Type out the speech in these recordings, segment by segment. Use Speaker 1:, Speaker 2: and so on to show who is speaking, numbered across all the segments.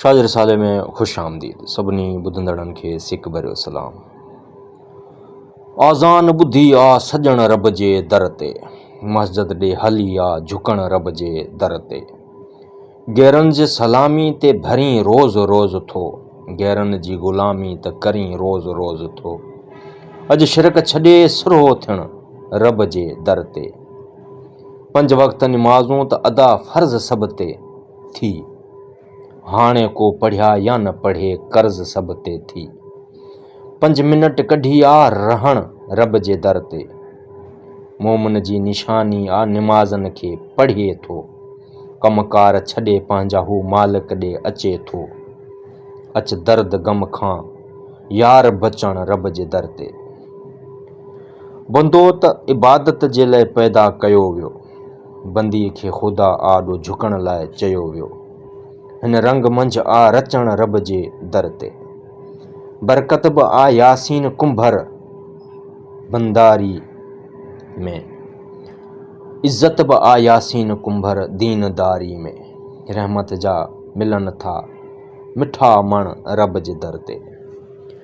Speaker 1: شاهه جي رسالي ۾ خوش آمديد. سڀني ٻڌندڙن کي سڪ ڀريو سلام. آذان ٻڌي آ سڄڻ رب جي در تي. مسجد ڏي هلي آ جهڪڻ رب جي در تي. غيرن جي سلامي تي ڀرين روز روز ٿو. غيرن جي غلامي ته ڪرين روز روز ٿو. اڄ شرڪ ڇڏي سرهو ٿيڻ رب جي در تي. پنج وقت نمازون ته ادا فرض سڀ تي ٿي، هاڻي ڪو پڙهيا يا نه پڙهي قرض سڀ تي ٿي، پنج منٽ ڪڍي آ رهڻ رب جي در تي، مومن جي نشاني آ نمازن کي پڙهي ٿو، ڪم ڪار ڇڏي پنهنجا هو مالڪ ڏي اچي ٿو، اچ درد غم کان يار بچڻ رب جي در تي. بندو ته عبادت جي لئه پيدا ڪيو ويو، بندي کي خدا آڏو جهڪڻ لاء چيو ويو. هن رنگ منجهه آ رچڻ رب جي در تي. برڪت به آ ياسين ڪنڀر بنداري ۾. عزت به آ ياسين ڪنڀر دين داري ۾. رحمت جا ملن ٿا مٺا مڻ رب جي در تي.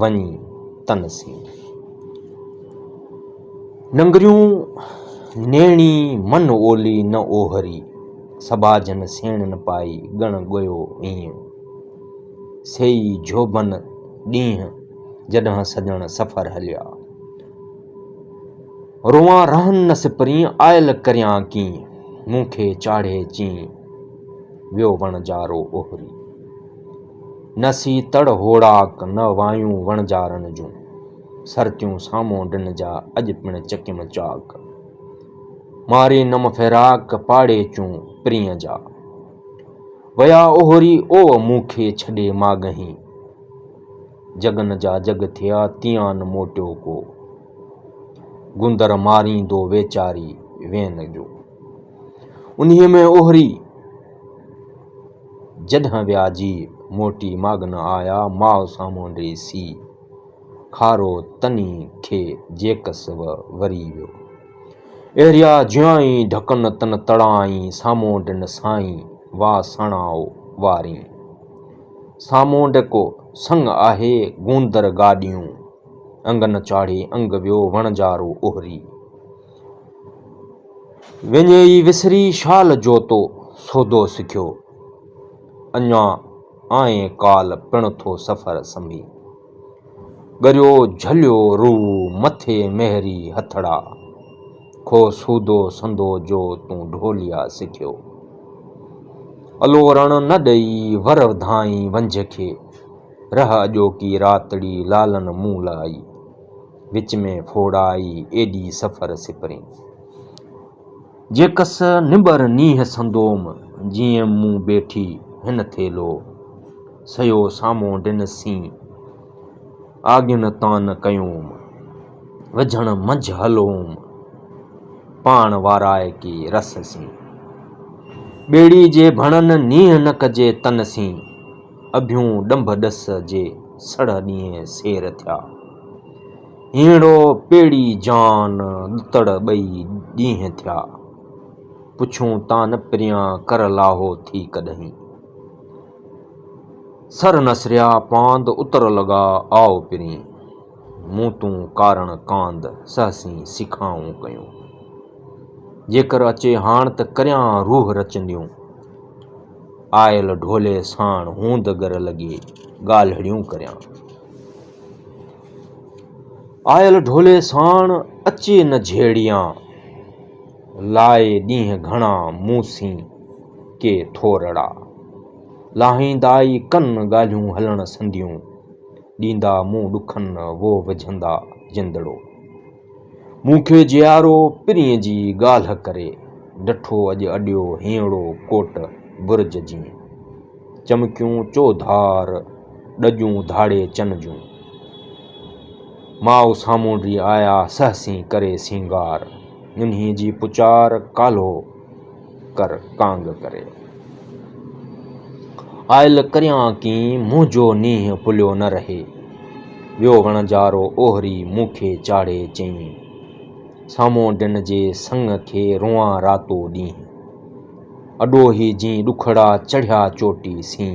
Speaker 1: وڃي تن سين. ننگريون نيڻي من اولي نه اوهري، سٻاجهن سيڻن پائي ڳڻ ڳويو ايئن. سيئي جهوٻن ڏينهن جڏهن سڄڻ سفر هليا. روئان رهن نه سپرين آيل ڪريان ڪيئن. مون کي چاڙهي چين ويو وڻجارو اوهري. نه سي تڙ هوڙاڪ نه وايون وڻجارن جون، سرتيون سامهون ڊن جا اڄ پڻ چڪيم چاڪ. ماري نم فراق پاڙي چون پرينء جا، ويا اوهري اوء مون کي ڇڏي ماڳهين. جڳن جا جڳ ٿيا تيان موٽيو ڪو، گوندر ماريندو ويچاري وين جو. انهيء ۾ اوهري. جڏهن وياجي موٽي ماڳن آيا، ماء سامهون ڏيسي، کارو تني کي جيڪس و وري ويو. اهريا جيائين ڍڪن تن تڙائين، سامهون ڏن سائين وا سڻائو وارين. سامهون ڍڪو سڱ آهي گوندر گاڏيون، انگ نه چاڙهي انگ ويو وڻجارو اهري. وڃي ئي وسري شال جو تو سودو سکيو، اڃا آئين ڪال پڻ ٿو سفر سنڀي. ڳريو جهليو روء مٿي مهري هٿڙا، ڪو سودو سندو جو تون ڍوليا سکيو. الورڻ نه ڏئي ور وڌائين ونجهه کي، رهه اڄوڪي راتڙي لالن مون لاء. وچ ۾ ڦوڙائي ايڏي سفر سپرين. جيڪس نٻر نينهن سندوم، جيئن مون ٻيٺي هن ٿيلهو. سيو سامهون ڏنسين، آڳين تان ڪيوم. وجهڻ منجهه هلوم، پاڻ وارائي ڪي رس سين. ٻيڙي جي ڀڻن نينهن نه ڪجي تن سين. اڀيون ڏنڀ ڏس جي سڙهه ڏينهن سير ٿيا. هينئڙو پيڙهي جان ڏتڙ ٻئي ڏينهن ٿيا. پڇون تان نه پريان ڪر لاهو ٿي ڪڏهين. سر نسريا پاند اتر لڳا آء پرين. مون تون ڪارڻ ڪاند سهسين سيکائون ڪيون. جيڪر اچي هاڻ ته ڪريان روح رچنديون. آيل ڍولي ساڻ هوند گر لڳي ڳالهڙيون ڪريان. آيل ڍولي ساڻ اچي نه جهيڙيان، لائي ڏينهن گهڻا مون سين ڪي ٿورڙا. لاهيندائي ڪن ڳالهيون هلڻ سنديون، ڏيندا مون ڏکن وو وجهندا جندڙو. مون کي جيارو پرينء جي ڳالهه ڪري، ڊٺو اڄ اڏيو هينئڙو ڪوٽ برج جيئن. چمڪيون چوڌار ڏڄون ڌاڙي چن جون. ماء سامهون ري آيا سهسين ڪري سينگار. ننهي جي پچار ڪالهو. ڪر ڪانگ ڪري آيل ڪريان ڪين منهنجو نينهن پليو نه رهي ويو وڻجارو اوهري مون کي چاڙهي چئين سامونڊن جي سڱ کي روئان راتو ڏينهن اڏوهي جين ڏکڙا چڙهيا چوٽي سين.